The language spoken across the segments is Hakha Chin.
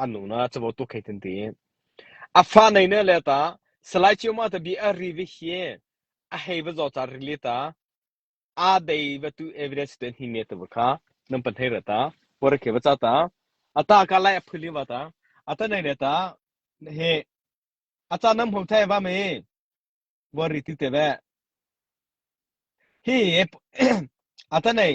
an nu na cabo tu khei tin ti a fa nei ne le ta salai chiu ma ta bi a ri vi hi a hei va zo ta ri le ta a dei va tu evidence te ni ne ta bu kha nam pan thei ra ta por ke ba cha ta ata ka lai a phuli wa ta ata nei ne ta he acha nam hom thai va me bo ri ti te ve hi ata nei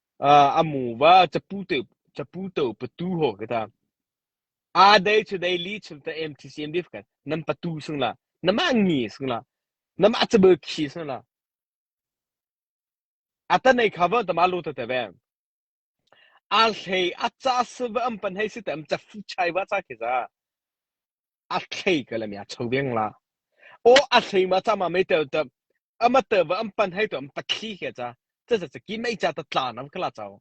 A muva caputo patu haw ka tang. A dei cu dei li chung ta MTCM dip kan. Nan patu sung la. Na mah ngi sung la. Na mah cabel khi sung la. Ata nei khava tama lo ta te ve. A hlei a ca sava am pan hei si tam ca fu chai va ca khi za. a hlei ka lam ya cho veng la o a hlei ma cha ma mei tel te ama tel va am pan hai to am ta khi ke cha cha cha ki mei cha ta tla nam kala chao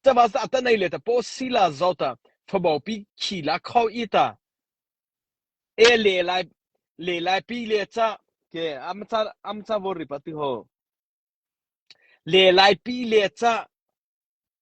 cha ba sa ta nei le ta po si la zo ta fabau pi khi la kho i ta e le lai le lai pi le cha ke am cha am cha vo ri pa ti ho le lai pi le cha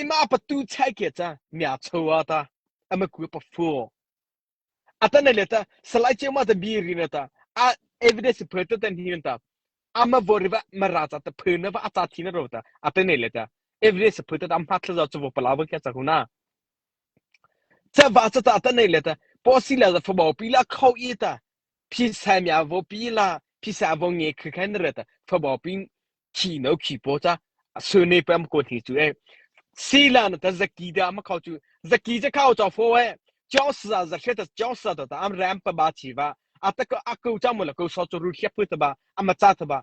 Imah patu chai ke ca myacho a ta ama ku pa fu a ta nei le ta salai cheu ma ta bi ri na ta a evidence phe ta tan hin ta ama vo ri va ma ra ta ta phe na va a ta thi na ro ta a ta nei le ta evidence phe ta ta ma thla za chu vo pala wa kya cha kuna cha va cha ta ta nei le ta posi la za fa bo pi la khau i ta phisa mi a vo pi la phisa a vo nge kha khan re ta fabau pin khi no khi po cha su ne pam ko thi chu e sila na ta zaki da ma khau chu zaki je khau chaw fo e chong sa za she ta chong sa to ta am ram pa ba chi va ataka aku chamu la ko so chu ru khep pu ta ba ama cha ta ba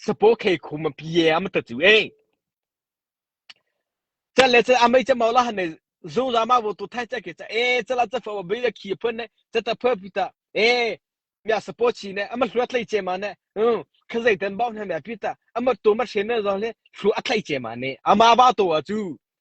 Sapaw khe khum a pie am ta chu eng. Chat le chat amai chat mawla han ne zungza ma wo tu thai chat ke cha e chala cha fa be khi phun ne chat ta pha pita e mya sapaw chi ne ama hluat lai che ma ne hm khazai tan baw na mya pita ama to ma shen na zon le hlu a thlai che ma ne ama ba to a chu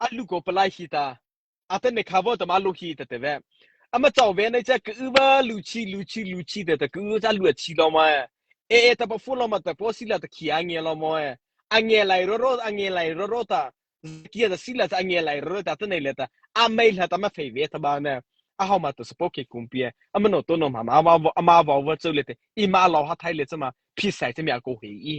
an lu ko palai hi ta atan ne kha bo tama lu hi ta te ve ama chaw ve nei che ka u ba lu chi lu chi lu chi te ta ka u cha lu chi lo ma e e ta pa fu lo ma ta po si la ta ki ange lo mo e ange lai ro ro ange lai ro ro ta kia ta si la ta ange lai ro ta ta nei le ta a mai la ta ma phei ve ta ba ne a ho ma ta spo ke kum pie ama no to no ma ma ma ma va va chau le te i ma lo ha thai le chama phi sai che mya ko hi i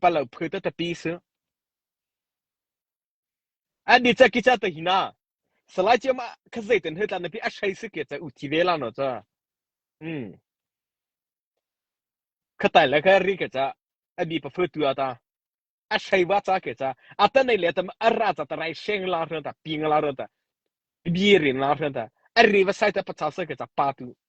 Pa lo phu te tapi si. An ni ca ki ca te hina. Salai cia ma kha zei ten he tlan napi a shai si ke ca u ti ve la no ca. Mm. Kha tai le kha ri ke ca. A mi pa fu tu ata. A shai wa ca ke ca. A ta nei le ta a ra ca ta rai sheng la ran ta ping la ran ta. Bi rin la ran ta. A ri va sai ta pa cha sa ke ca pa tu.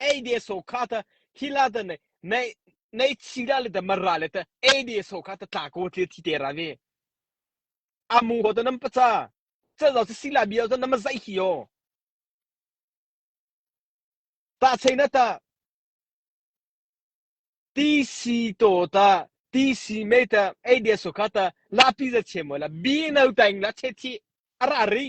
ei de so kha ta hila ta nei nei nei chi da le ta mara le ta ei de so kha ta tla ko thil thi te ra ve amu ho ta nam pacha cha zo si la bia zo nam zai hi yo ta sei na ta ti si to ta ti si me ta ei de so kha ta la pi za che mo la bi no tang la che thi ara ri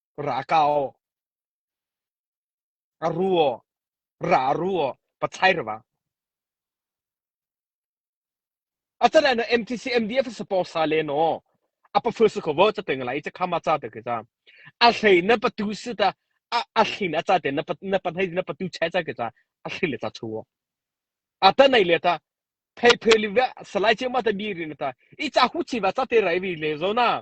Ra kau. A ru aw. Ra a ru aw. Pathlai ra vang. A chan ah na MTC MDF support sa le no. A pafu su ko vo cha te ngai cha khama cha te ke cha. A hlei na patu su ta a hlin a cha te na na panhai na patu chai cha ke cha a hlin le cha chu. A ta nai le ta phei phei li ve salai che ma ta bi ri na ta i cha hu chi va cha te rai vi le zo na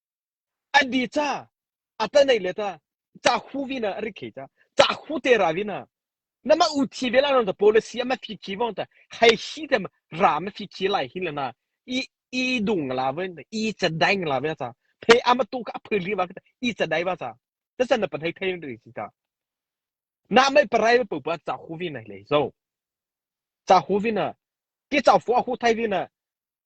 An di ca a tanei le ta ca khu vina a rik khei ca ca khu te ra vina na ma u thi vela non ta policy ama phi khi vong ta hai shi te ra ma phi khi lai hin lana i i dung la ven i cha daing la ve ca phe ama tu ka phil ri wa ka i cha dai wa ca ta san na pan hai thai ri si ta na mai parai pu pa ca khu vina le zo ca khu vina ki cha fu a khu thai vina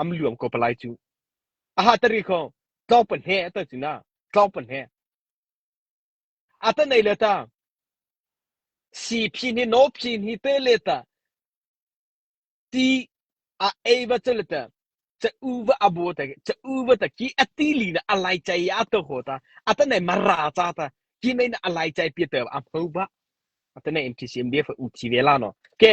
am luang ko palai cu a ha tari kho tlawng pan he ta china tlawng pan he ata nei le ta si phi ni no phi ni te le ta ti a ei va chal ta cha u va abo ta cha u va ta ki ati li na alai chai ya to ho ta ata nei mara cha ta ki nei na alai chai pi ta am ho ba ata nei MTCM BF u thi ve la no ke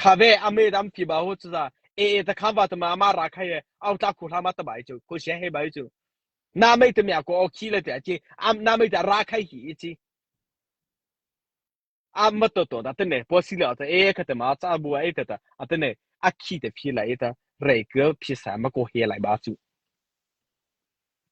khave ame dam ki ba hu chuza e e ta khamba ta ma ma ra khai au ta khu hla ma ta bai chu khu she he bai chu na mai ta mya ko o khi le ta chi am na mai ta ra khai hi chi am ma to to da te ne po si le ta e kha ta ma cha bu ai ta ta a te ne a khi te phi lai ta re kyo phi sa ma ko he lai ba chu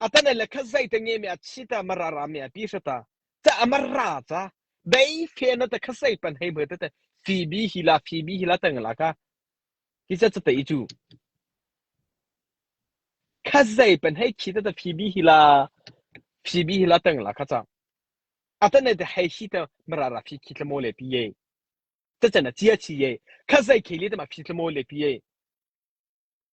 A tane le kha zei te nge me a chi ta mara ra me a pi sha ta cha amar ra cha dei fe na ta kha sei pan hei bwe te te phoebe hi la phoebe hi la tang la ka hi cha cha te i chu kha zei pan hei khi ta ta phoebe hi la phoebe hi la tang la kha cha atane te hei hi ta mara ra phi khi tlamo le pi ye cha cha na chia chi ye kha zei kheli ta ma phi tlamo le pi ye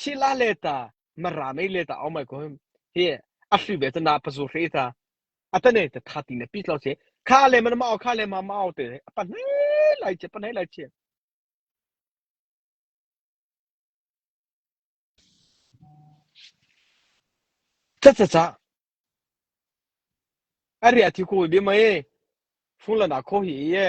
Hila le ta, Mara mei le ta aum ai ko him. Hi a hri ve ta na pazu hri ta. Atane ta tha ti na pi tlo che. Kha le man ma kha le ma ma te. Apa nei lai che, apa nei lai che. Cha cha cha. Ari ati ko bi mai. Phun la na kho hi ye.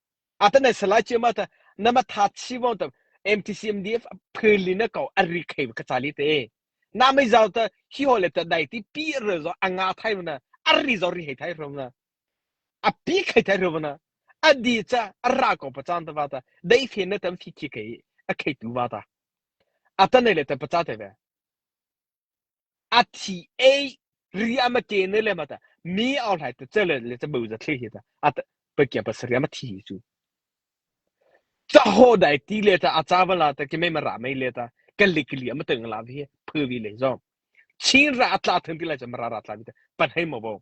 a ta nai salai cia ma ta na ma tha si wo ta MTCMDF philin na ko ari khei ka chali te na mai zau ta hi ho le ta dai ti pi re zo anga thai na ari zo ri hei thai rom na a pi khei thai rom na adi cha ra ko pa chan ta va ta dai phen na tam thi thi khei a khei tu va ta a ta nai le ta pa cha te ve a thi ei ri a ma ke ne le ma ta mi au hlai ta chele le cha bu za thli hi ta a pa kia pa sri ma thi hi chu cha ho dai ti le ta a cha wala ta ke me ma ra mai le ta ka lik li ma teng la vi phu vi le zo chin ra atla than ti lai cha ma ra ra tla vi ta pan hei mo bo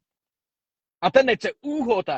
ata ne cha u ho ta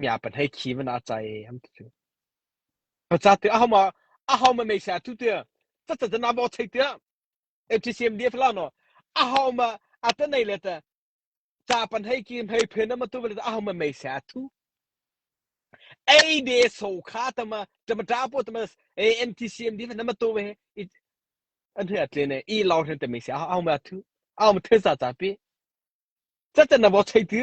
mi a pan hei khi man a chai an ti cu pa cha te a hom a hom me sa tu te cha cha na bo chei te FTCMDF la no a hom a ta nei le ta cha pan hei ki hei phen na ma tu le a hom me sa tu ei de so kha tama tama ta po tama NTCMD na ma to we an he tle ne i law hen te me sa hom a tu a hom the sa ta pi cha cha na bo chei ti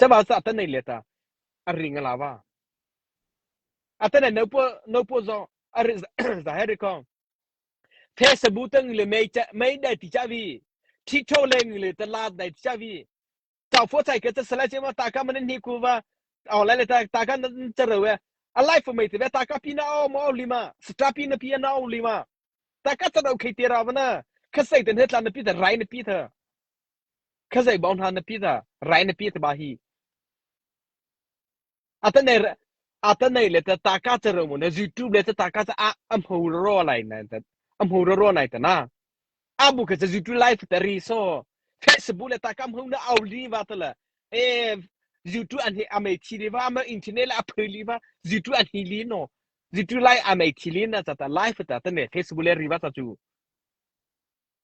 Caba sa tan nei le ta a ring a la va a tan no pu no pu zo a ri za he ri kong the sabu tang le mei cha mei dai ti cha vi thi tho le le ta la dai ti cha vi chau pho sai ke ta sala che ma ta ka man ni ku va au la le ta ta ka cha re we a life for me te ve ta ka pi na o mo lima stra pi na pi na o lima ta ka ta do khei te ra va na kha sai ten he tlan na pi ta rai na pi tha Khuazei bau hna na pi ta, rai na pi taba hi. A tanei le ta ka ca ro mu na YouTube le ta ka ca ah a hmu ro lai na a hmu ro ro nai ta na. A bu ka ca YouTube live ta ri so. Facebook le ta ka hmu na au li va ta la. Eh YouTube an hi amei thi li va ama internet le a phơi li va YouTube an hi li no. YouTube live amei thi li na ta ta live ta ta ne Facebook le ri va ta chu.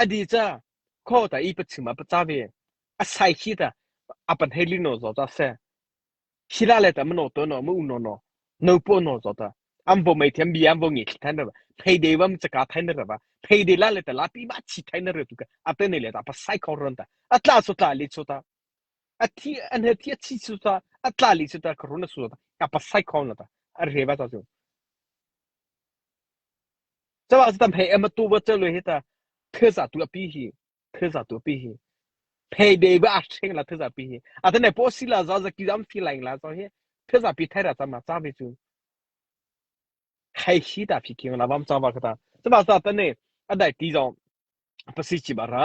A di ca khuaho ta i pachim ah paca ve. A sai khi ta a pan hei lin naw zaw ta seh. Khi la le ta manaw taw naw, maung naw naw, no paw naw zaw ta. An vo mei thiam bi an vo ngi thli thai na ra. Payday wam caka thai na ra va. Payday la le ta la pi ma chi thai na ra tu ka. A ten le ta pa sai khau ron ta. A tla so tla le cho ta. A thi an he thi a chi so ta. A tla li so ta kharu na so ta. A pa sai khau na ta. A re va ta so. Caah cu tam hei em a tu va cel hi ta thil za tu a pi hi thil za tu a pi hi phei be ba a chen la thil za pi hi a tane po si la za za ki dam fi lain la za hi thil za pi thai ra chama cha ve chu khai shi ta phi king la vam cha va kata chama ta tane a dai ti zong pasi chi bara